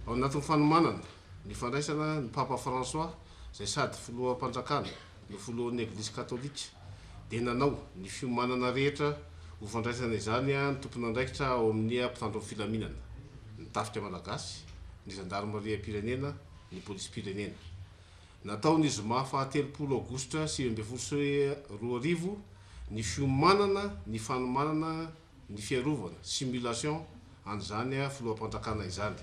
Ao anatin'ny fanomanana ny fandraisana ny Papa François izay sady Filoham-panjakana no Filohan'ny Eglizy Katolika dia nanao ny fiomanana rehetra ho fandraisana izany ny tompon'andraikitra ao amin'ny mpitandro ny filaminana, ny Tafika Malagasy, ny Zandarimariam-pirenena, ny Polisim-pirenena. Natao ny zoma faha telopolo aogositra sivy ambin'ny folo sy roa arivo ny fiomanana ny fanomanana ny fiarovana, simulation, an'izany filoham-pandrakana izany.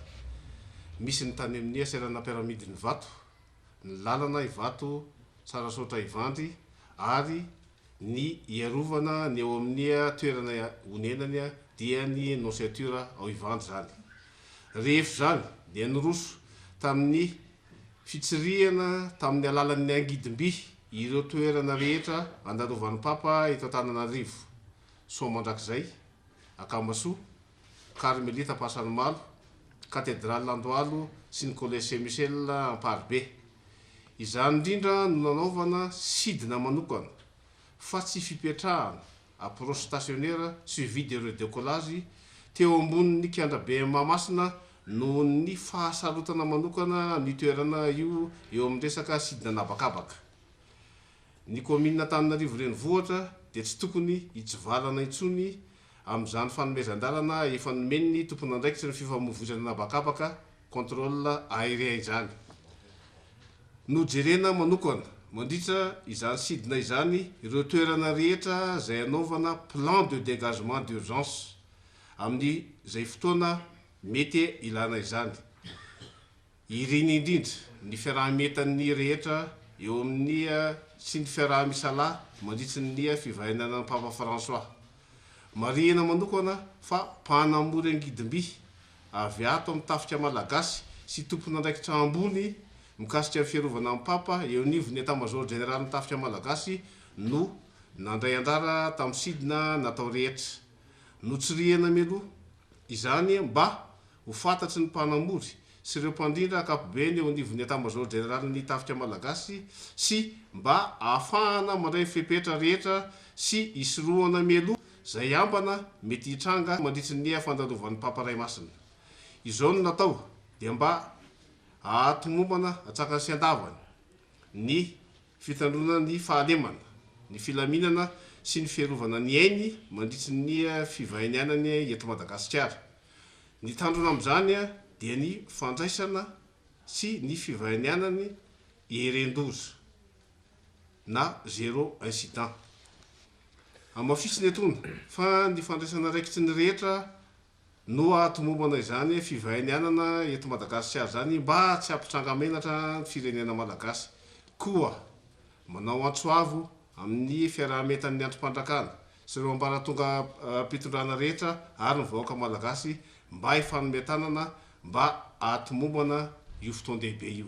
Misy ny tany amin'ia seranam-piaramidin' Ivato, ny lalana Ivato, Tsarasaotra Ivandry ary ny iarovana ny ao amin'ia toerana onenany dia ny Nonciature ao Ivandry izany. Rehefa izany dia niroso tamin'ny fitsirihana tamin'ny alalan'ny angidim-by ireo toerana rehetra andarovan'ny Papa eto Antananarivo. Soa Mandrakizay, Akamasoa, Karmelita Ampasanimalo, Katedraly Andohalo sy ny Collège Saint Michel Amparibe. Izany indrindra no nanaovana sidina manokana fa tsy fipetrahana, approche stationnaire suivie de redecollage, teo ambonin'ny kianja be Mahamasina noho ny fahasarotana manokana ny toerana io eo amin'ny resaka sidina an'habakabaka. Ny kaominina Antananarivo Renivohitra dia tsy tokony hitsivalana intsony amin'izany fanomezan-dalana efa nomen'ny tompon'andraikitry ny fifamoivoizana an'habakabaka, contrôle aérien, izany. Nojerena manokana, mandritra izany sidina izany, ireo toerana rehetra izay hanaovana plan de dégagement d'urgence amin'izay fotoana mety hilana izany. Iriny indrindra ny fiaraha-mientan'ny rehetra eo amin'ny sy ny fiaraha-misalahy mandritra ny fivahinianan'ny Papa Fransoà. Marihina manokana fa mpanamory angidim-by avy ato amin'ny tafika malagasy sy tompon'andraikitra ambony mikasika ny fiarovana ny Papa eo anivon'ny Etamazaoro Jeneralin'ny Tafika Malagasy no nandray anjara tamin'ny sidina natao rehetra. Notsirihina mialoha izany mba Ho fantatry ny mpanamory sy ireo mpandrindra ankapobeny eo anivon'ny Etamazaoro Jeneralin'ny Tafika Malagasy sy mba ahafahana mandray ny fepetra rehetra sy hisorohana mialoha izay ambana mety hitranga mandritry ny fandalovan'ny Papa Ray Masina izao no natao dia mba hahatomombana hatrankany sy andavany ny fitandroana ny fahalemana, ny filaminana sy ny fiarovana ny ainy mandritry ny fivahinianany eto Madagasikara. Ny tandrony amin'izany dia ny fandraisana sy ny fivahinianan'ny eren-doza na zero incident. Hamafisina etoana fa ny fandraisana raikitry ny rehetra no hahatomombana izany fivahinianana eto Madagasikara izany mba tsy hampitranga menatra ny firenena malagasy koa Manao antso avo amin'ny fiaraha-mientan'ny andrim-pandrakana sy ireo ambaratongam-pitondrana rehetra ary ny vahoaka malagasy mba hifanome tanana mba hahatomombana io fotoan-dehibe io.